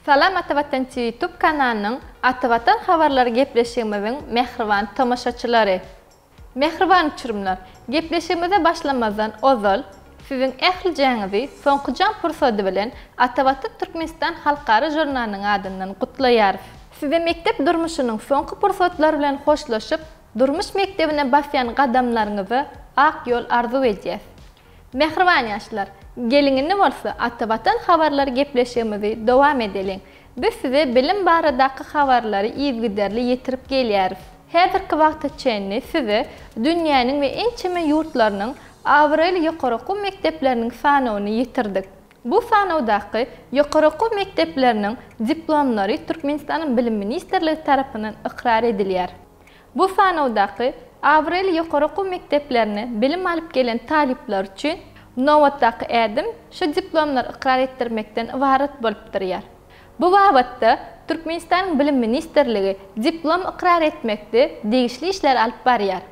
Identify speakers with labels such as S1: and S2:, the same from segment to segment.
S1: Salam Atavatan TV YouTube kanalynyň Atavatan habarlary gepleşigimiziň mähriban tomaşaçylary! Mähriban uçurymlar! Gepleşigimize başlamazdan ozal, siziň ählijäňizi soňky jaň pursady bilen Atavatan Türkmenistan halkara žurnalynyň adyndan gutlaýarys. Size mekdep durmuşynyň soňky pursatlary bilen hoşlaşyp, Durmuş mekdebine basýan gadamlaryňyza ak ýol arzuw edýäs. Mähriban ýaşlar, geliň indi bolsa Ata Watan habarlary gepleşigimizi dowam edeliň. Biz size bilim baradaky habarlary yzgiderli ýetirip gelýäris. Häzirki wagta çenli size dünýäniň we ençeme ýurtlarynyň abraýly ýokary okuw mekdepleriniň sanawyny ýetirdik. Bu sanawdaky ýokary okuw mekdepleriniň diplomlary Türkmenistanyň Bilim ministrligi tarapyndan ykrar edilýär. Bu sanawdaky abraýly ýokary okuw mekdeplerine bilim alyp gelen talyplar üçin nobatdaky ädim şu diplomlary ykrar etdirmekden ybarat bolup durýar. Bu babatda Türkmenistanyň Bilim ministrligi diplom ykrar etmekde degişli işleri alyp barýar.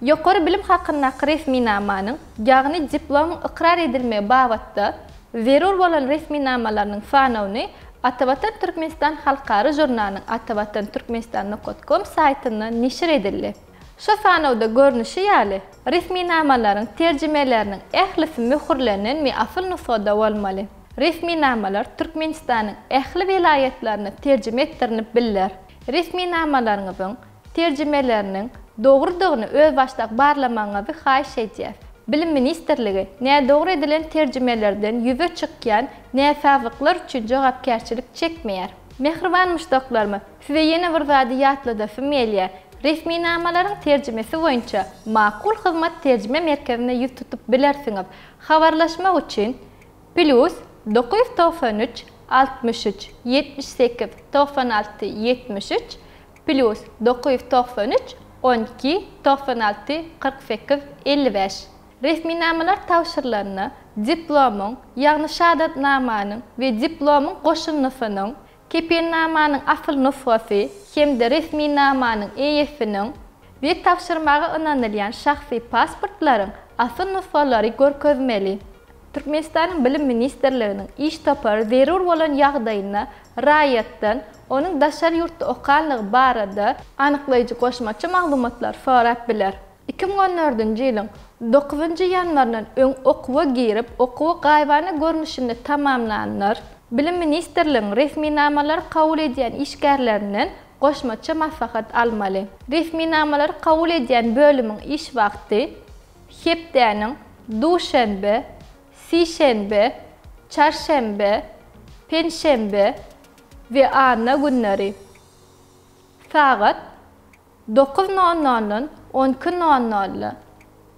S1: Ýokary bilim hakyndaky resminamanyň, ýagny diplomyň ykrar edilmegi babatda, zerur bolan resminamalarynyň sanawyny Atavatan Türkmenistan halkara žurnalynyň Atavatan Türkmenistan nokat kom saýtynda neşir edildi. Şu sanawda görnüşi ýaly, resminamalaryň terjimeleriniň ählisi möhürlenen we asyl nusgada bolmaly. Resminamalar Türkmenistanyň ähli welaýatlaryna terjime etdirinip biller. Resminamalaryňyzyň, terjimeleriniň dogrudygyny özbaşdak barlamagyňyzy haýyş edýäs. Bilim ministrligi nädogry edilen terjimelerden ýüze çykýan näsazlyklar üçin jogapkärçilik çekmeýär. Mähriban muşdaklarym, size ýene bir zady ýatladasym gelýär, resminamalaryň terjimesi boýunça Makul Hyzmat terjime merkezine ýüz tutup bilersiňiz. Habarlaşmak üçin, Plýus dokuz ýüz togsan üç, altmyş üç, ýetmiş sekiz, togsan alty, ýetmiş üç, Plýus dokuz ýüz togsan üç on iki togsan alty kyrk sekiz elli bäş Resminamalar tabşyrylanda diplomyň, ýagny şahadatnamanyň we diplomyň goşundysynyň, kepilnamanyň asyl nusgasy hem-de resminamanyň eýesiniň we tabşyrmaga ynanylýan şahsy pasportlaryň asyl nusgalary görkezmeli. Türkmenistanyň Bilim ministrliginiň iş topary zerur bolan ýagdaýynda raýatdan onuň daşary ýurtda okandygy barada anyklaýjy goşmaça maglumatlary sorap biler. Iki müň on dördünji ýylyň dokuzynjy ýanwaryndan öň okuwa girip, okuwy gaýybana görnüşinde tamamlanlar Bilim ministrligiň resminamalary kabul edýän işgärlerinden goşmaça maslahat almaly. Resminamalary kabul edýän bölümiň iş wagty Hepdäniň duşenbe, sişenbe, çarşenbe, penşenbe we anna günleri sagat dokuz nol noldan on iki nol nol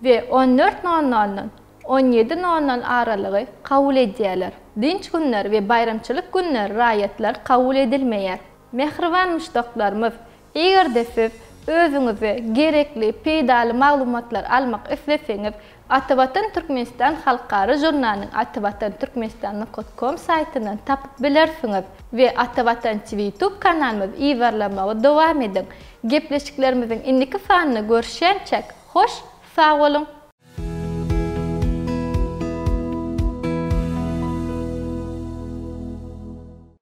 S1: we on dört nol noldan on ýedi nol nol aralygy kabul edýärler. Dynç günleri we baýramçylyk günleri raýatlar kabul edilmeýär. Mähriban muşdaklarymyz, Eger-de siz özüňize gerekli peýdaly maglumatlary almak isleseňiz, Atavatan Türkmenistan halkara žurnalynyň atavatanturkmenistan nukat kom saýtyndan tapyp bilersiňiz we Atavatan TV YouTube kanalymyzy yzarlamagy dowam ediň. Gepleşiklerimiziň indiki sanynda görüşýänçäk, hoş sag boluň!